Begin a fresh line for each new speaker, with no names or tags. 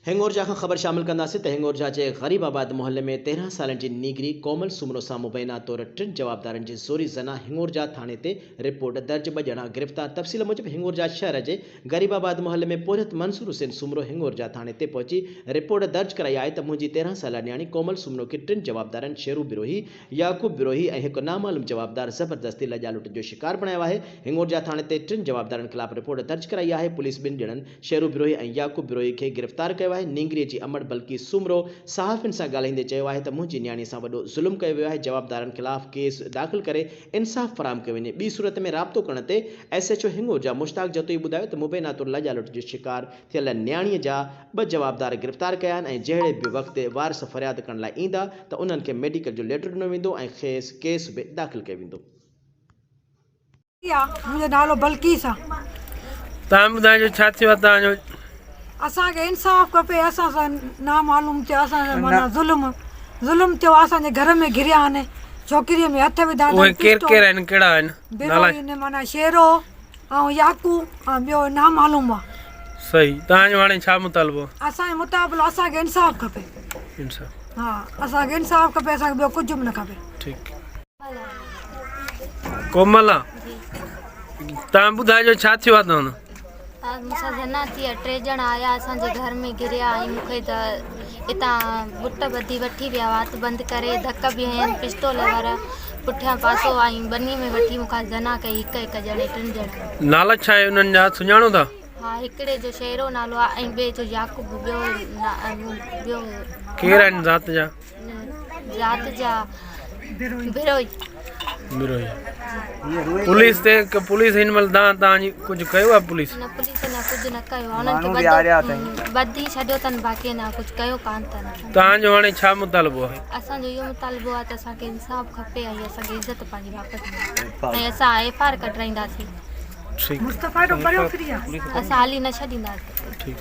هنڱورجا کان خبر شامل ڪنداسين ته هنڱورجا جي غريب آباد محلي ۾ تيرهن سالن جي نينگري ڪومل سومرو سان مبينا طور ٽن جوابدارن جي زوري زنا هنڱورجا ٿاڻي تي رپورٽ درج ٻه ڄڻا گرفتار تفصيل موجب هنڱورجا شهر جي غريب آباد محلي ۾ پورهيت منصور حسين سومرو هنڱورجا ٿاڻي تي پهچي رپورٽ درج ڪرائي آهي ته منهنجي تيرهن سالا نياڻي ڪومل سومرو کي ٽن جوابدارن شيرو بروهي يعقوب بروهي ۽ هڪ نامعلوم جوابدار زبردستي لڄا لٽ جو شڪار بڻايو آهي، هنڱورجا ٿاڻي تي ٽن جوابدارن خلاف رپورٽ درج ڪرائي آهي، پوليس ٻن ڄڻن شيرو بروهي ۽ يعقوب بروهي کي گرفتار ڪيو آهي، نينگري جي امڙ بلقيس سومرو صحافين سان ڳالهائيندي چيو آهي ته منهنجي نياڻي سان وڏو ظلم ڪيو ويو آهي، جوابدارن خلاف ڪيس داخل ڪري انصاف فراهم ڪيو وڃي، ٻي صورت ۾ رابطو ڪرڻ تي S H O Hingorja Mushtaq Jatoi ٻڌايو ته مبينا طور لڄا لٽ جو شڪار ٿيل نياڻيء جا ٻه جوابدار گرفتار ڪيا آهن ۽ جهڙي به وقت وارث فرياد ڪرڻ لاء ايندا ته انهن کي ميڊيڪل جو ليٽر ڏنو ويندو ۽ کيس ڪيس به داخل ڪيو ويندو.
منهنجو نالو بلقيس آ. تان
ٻڌائجو ڇا ٿيو آ تان جو. اسان کي
انصاف کپي اسان سان نا معلوم ٿيو اسان سان معنيٰ ظلم ظلم ٿيو آ اسان جي گهر ۾ گهريا آهن ڇوڪريء ۾ هٿ وڌا اٿن پسٽول اهي ڪير ڪير آهن
ڪهڙا آهن نالا اهي معنيٰ شيرو
آئون ياڪو ۽ ٻيو نامعلوم آ. صحيح توهان
جو هاڻي ڇا مطالبو؟ اسان جو مطابلو
اسان کي انصاف کپي. انصاف. ها
اسان کي
انصاف کپي اسان کي ٻيو ڪجهه به نه کپي. ٺيڪ
ڪوملا توهان ٻڌائجو ڇا ٿيو آ توهان سان؟ مون سان
زنا ٿي آ ٽي ڄڻا آيا اسان جي گهر ۾ گهريا ۽ مون کي ته اتان بت ٻڌي وٺي ويا وات بند ڪري ڌڪ به هنيا پستول وارا پٺيان پاسو آئين ٻني ۾ وٺي مون کان زنا ڪئي هڪ هڪ ڄڻي ٽن ڄڻن. نالا ڇا آهي انهن جا
سڃاڻو ٿا؟ ها هڪڙي جو
شهرو نالو آهي ۽ ٻئي جو يعقوب ٻيو ٻيو. ڪير
آهن ذات جا؟ ذات
جا بروهي. بروهي
پوليس تي پوليس هن مهل دان تان جي ڪجهه ڪيو آهي پوليس؟ نه پوليس اڃا ڪجهه نه
ڪيو آهي انهن کي ٻڌي ٻڌي ڇڏيو اٿن باقي اڃا ڪجهه ڪيو ڪانه اٿن. تان جو هاڻي ڇا
مطالبو آهي؟ اسان جو اهو مطالبو
آهي ته اسان کي انصاف کپي ۽ اسان کي عزت پنهنجي واپس ملي ۽ اسان ايف آر ڪڍرائينداسين اسان هلي
نه ڇڏينداسين